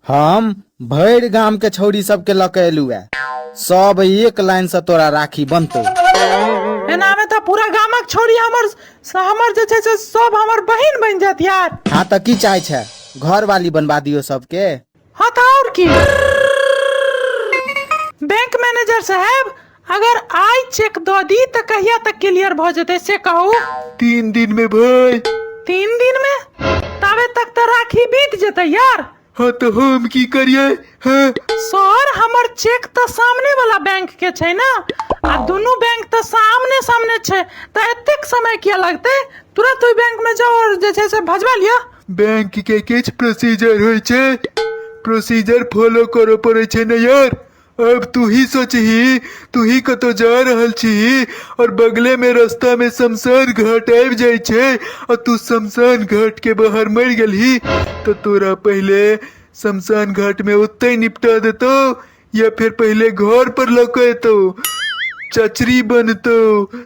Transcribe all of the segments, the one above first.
हम भरि गाम के छौरी सबके लऽ के एलू है सब एक लाइन से तोरा राखी बनतो एनामे तऽ पूरा गामक छौरी हमर हमर जे छै से सब हमर बहिन बनि जायत यार हाँ तऽ की चाहे छै घर वाली बनवा दियो सबके हाँ तऽ आओर की बैंक मैनेजर साहब अगर आइ चेक दऽ दी तऽ कहिया तक क्लियर भऽ जेतै से कहू तीन दिन में भाई तीन दिन में ताबे तक तऽ राखी बीत जेतै यार हाँ तो हम की करिए हाँ सर हमर चेक तऽ सामने वाला बैंक के छै ने आ दुनू बैंक तऽ सामने सामने छै तऽ एतेक समय किया लगतै तुरंत ओहि बैंक में जाओ और जे छै से भजवा लिअ बैंक के किछ प्रोसीजर होइ छै प्रोसीजर फॉलो करऽ पड़ै छै ने यार अब तू ही सोचही तू ही कतौ जा रहल छी और बगले में रास्ता में शमशान घाट आबि जाय छै और तू शमशान घाट के बाहर मर गेलही तो तोरा पहले शमशान घाट में ओते निपटा देतो या फिर पहले घर पर लौके तो चचरी बनतो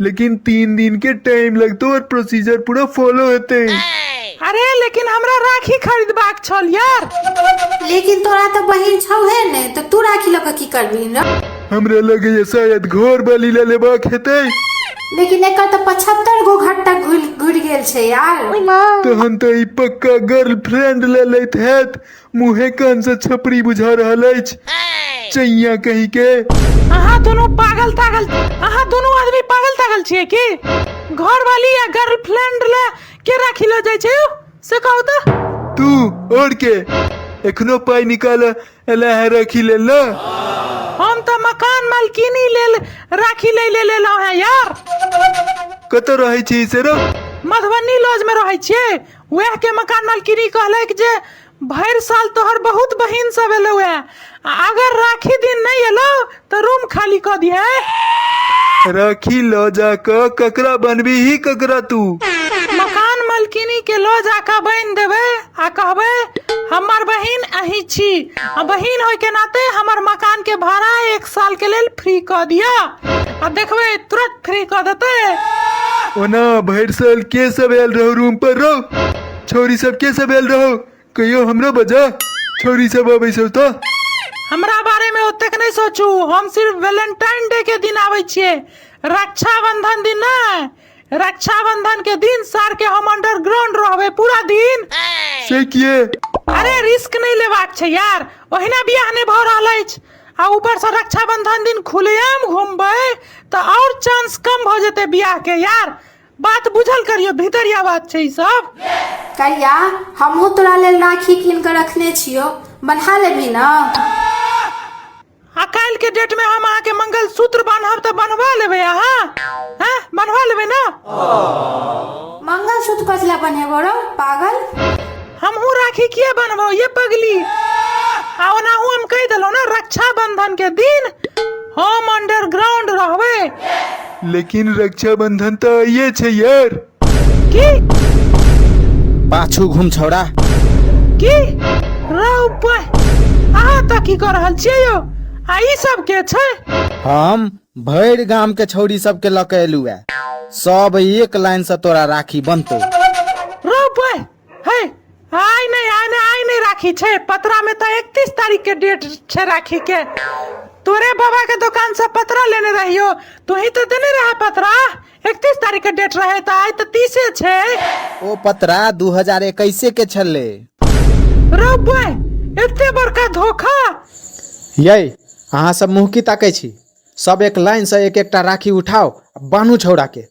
लेकिन तीन दिन के टाइम लगतो और प्रोसीजर पूरा फॉलो होते अरे लेकिन हमरा राखी खरीदबाक छल यार लेकिन तोरा तो बहिन छौ है ने तो तू राखी लऽ कऽ की करबी न हमरा लगे ये शायद घर वाली ले लेबा खेते लेकिन एकर तो पचहत्तर गो घर तक घुल घुर गेल छै यार तहन तो ई पक्का गर्लफ्रेंड ले लेत हैत मुँहे कान से छपरी बुझा रहल अछि चैया कहीं के अहाँ दोनों पागल तागल अहाँ दोनों आदमी पागल तागल छियै की घर वाली या गर्लफ्रेंड ले के राखी लो जाय छै से कहू तो तू और के एखनो पाई निकाल एला है रखी ले ला हम तो मकान मालकिनी लेल राखी ले ले ले लो है यार कत रहे छी से रो मधुबनी लॉज में रहै छियै वएह के मकान मालकिनी कहलक जे भरि साल तोहर बहुत बहिन सब एलो है आ अगर राखी दिन नहीं एलो तो रूम खाली कर दिहे राखी लऽ जा कऽ ककरा बनबी ही ककरा तू मकान मालकिनी के लो जाकर बन देवे आ कहबे हमर बहिन अही छी आ बहिन होय के नाते हमर मकान के भाड़ा एक साल के लेल फ्री कर दिया आ देखबे तुरंत नौकरी कऽ देतै ओना भरि साल के सब आयल रहो रूम पर रहो छौरी सब के सब आयल रहो कहियो हमरो बजा छौरी सब अबै छौ तऽ हमरा बारे में ओतेक नहीं सोचू हम सिर्फ वैलेंटाइन डे के दिन आबै छियै रक्षाबंधन दिन नहीं रक्षाबंधन के दिन सार के हम अंडरग्राउंड रहबै पूरा दिन से किए अरे रिस्क नहीं लेबाक छै यार ओहिना बियाह नहि भऽ रहल अछि आ ऊपर से रक्षाबंधन दिन खुलेआम घूमबै तऽ और चांस कम भऽ जेतै बियाह के यार बात बुझल करियो भीतरिया बात छै ई सब करिया हमहूँ तोरा लेल राखी कीन कऽ रखने छियौ बन्हा लेबही ने आ काल्हि के डेट में हम अहाँ के मंगल सूत्र बांधब तऽ बनवा लेबै अहाँ हैं? बनवा लेबै ना मंगल सूत्र कथी ला बनेबो रो पागल हमहू राखी किया बनबो ये पगली आ ओनाहू हम कह देलो ना रक्षाबंधन के दिन हम अंडरग्राउंड रहबे लेकिन रक्षाबंधन तो आइए छे यार की पाछू घूम छौड़ा की रौ पे अहाँ तक की कर रहल छियै यौ आ ई सब के छै हम भरि गाम के छौरी सबके लऽ के एलू है सब एक लाइन से तोरा राखी बनतो रुक ओए हे आइ नहि आइ नहि आइ नहि राखी छै पतरा में तो इकतीस तारीख के डेट छै राखी के तोरे बाबा के दुकान से पतरा लेने रहियो तू ही तो देने रहा पतरा एकतीस तारीख के डेट रहे तऽ आइ तऽ तीसे छै ओ पतरा दू हजार एकैसे के छलै रौ बे एते बड़का धोखा यै अहाँ सब मुँह की ताकै छी सब एक लाइन से एक एकटा राखी उठाओ आ बान्हू छौड़ा के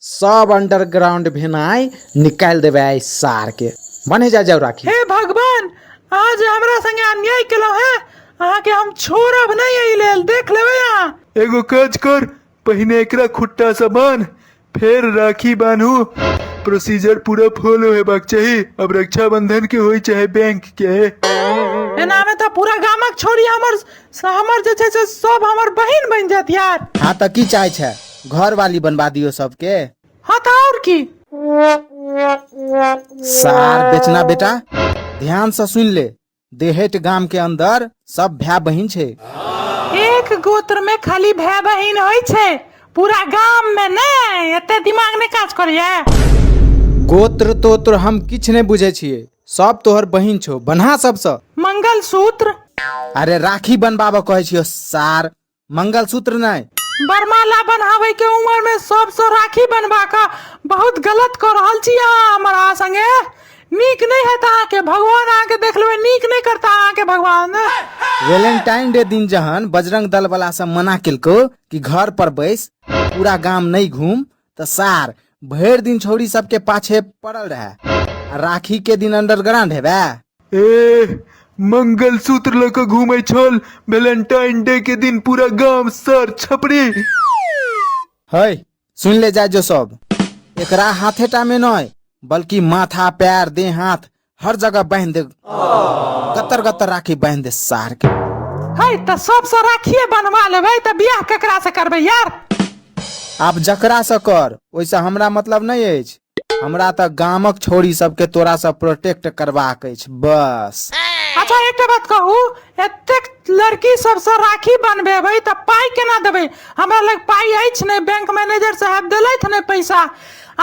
सब अंडरग्राउंड भेनाइ निकालि देबै आइ सार के बने जा जाओ राखी हे भगवान आज हमरा संगे अन्याय केलहुँ है अहाँके हम छोड़ब नहि एहि लेल देख लेबै अहाँ एगो काज कर पहिने एकरा खुट्टा से बान्ह फेर राखी बान्हू प्रोसीजर पूरा फॉलो हेबाक चाही अब रक्षाबंधन के होई चाहे बैंक के एनामे तऽ पूरा गामक छोरी हमर हमर जे छै से सब हमर बहिन बनि जायत यार हाँ तो की चाहे छे घर वाली बनवा दियो सबके हँ तऽ आओर की सार बेचना बेटा ध्यान से सुन ले देहेट गाम के अंदर सब भाय बहिन छै एक गोत्र में खाली भाई बहिन होई छे पूरा गांव में नहीं एते दिमाग नहीं काज करिए गोत्र तोत्र हम किछ नहि बुझै छियै सब तोहर बहिन छौ बन्हा सबसँ मंगलसूत्र अरे राखी बनबाबऽ कहै छियौ सार मंगलसूत्र नहीं बरमाला बनावे के उम्र में सबसे राखी बनवा का बहुत गलत कर रहल छी अहाँ हमारा संगे नीक नहीं है अहाँ के भगवान अहाँ के देख लेबे नीक नहीं करता अहाँ के भगवान वैलेंटाइन डे दिन जहन बजरंग दल वाला सब मना केलको कि घर पर बैस पूरा गांव नहीं घूम तऽ सार भरि दिन छौरी सबके पाछे पड़ल रहे आ राखी के दिन अंडरग्राउंड हेबे ए मंगलसूत्र लऽ कऽ घूमै छल वैलेंटाइन डे के दिन पूरा गांव सर छपरी है सुन ले जाय जो सब एकरा हाथे टा में नय बल्कि माथा पैर देह हाथ हर जगह बांध दे गतर गतर राखी बांध दे सार के है तो सबसे राखिए बनवा लेबै तो बियाह केकरा से करबै यार आप जकरा से कर ओइसे हमरा मतलब नहीं अछि हमरा तऽ गामक छोरी सबके तोरा से प्रोटेक्ट करबाक अछि बस अच्छा एकटा बात कहू एतेक लड़की सबसे राखी बनबेबै तऽ पाइ केना देबै हमरा लग पाइ अछि नहि बैंक मैनेजर साहब देलथि नहि पैसा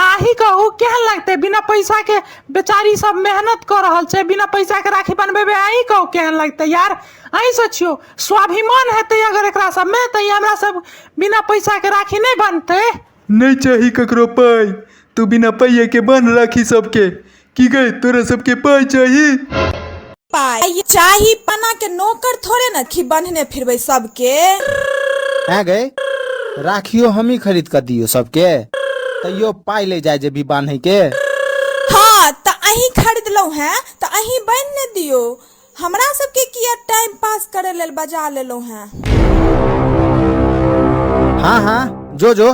अहि के ओ केहन लगते बिना पैसा के बेचारी सब मेहनत कर रहल छै बिना पैसा के राखी बनबेबे अहि के ओ केहन लगते यार अहि सोचियो स्वाभिमान हेतै अगर एकरा सब में तऽ ई हमरा सब बिना पैसा के राखी नहीं बनते नहीं चाही ककरो पाई तू बिना पाइए के बन राखी सबके की गए तोरा सबके पाई चाहिए पाई चाही पना के नौकर थोड़े न खी बन्हने फिरबै सबके हैं गए राखियो हम ही खरीद कर दियो सबके तैयो पाई ले जाए जे भी बांधे के हाँ त अहीं खरीदलहुँ हैं त अहीं बान्हि ने दियो हमरा सबके किया टाइम पास करे लेल बजा लेलहुँ हैं हाँ हाँ जो जो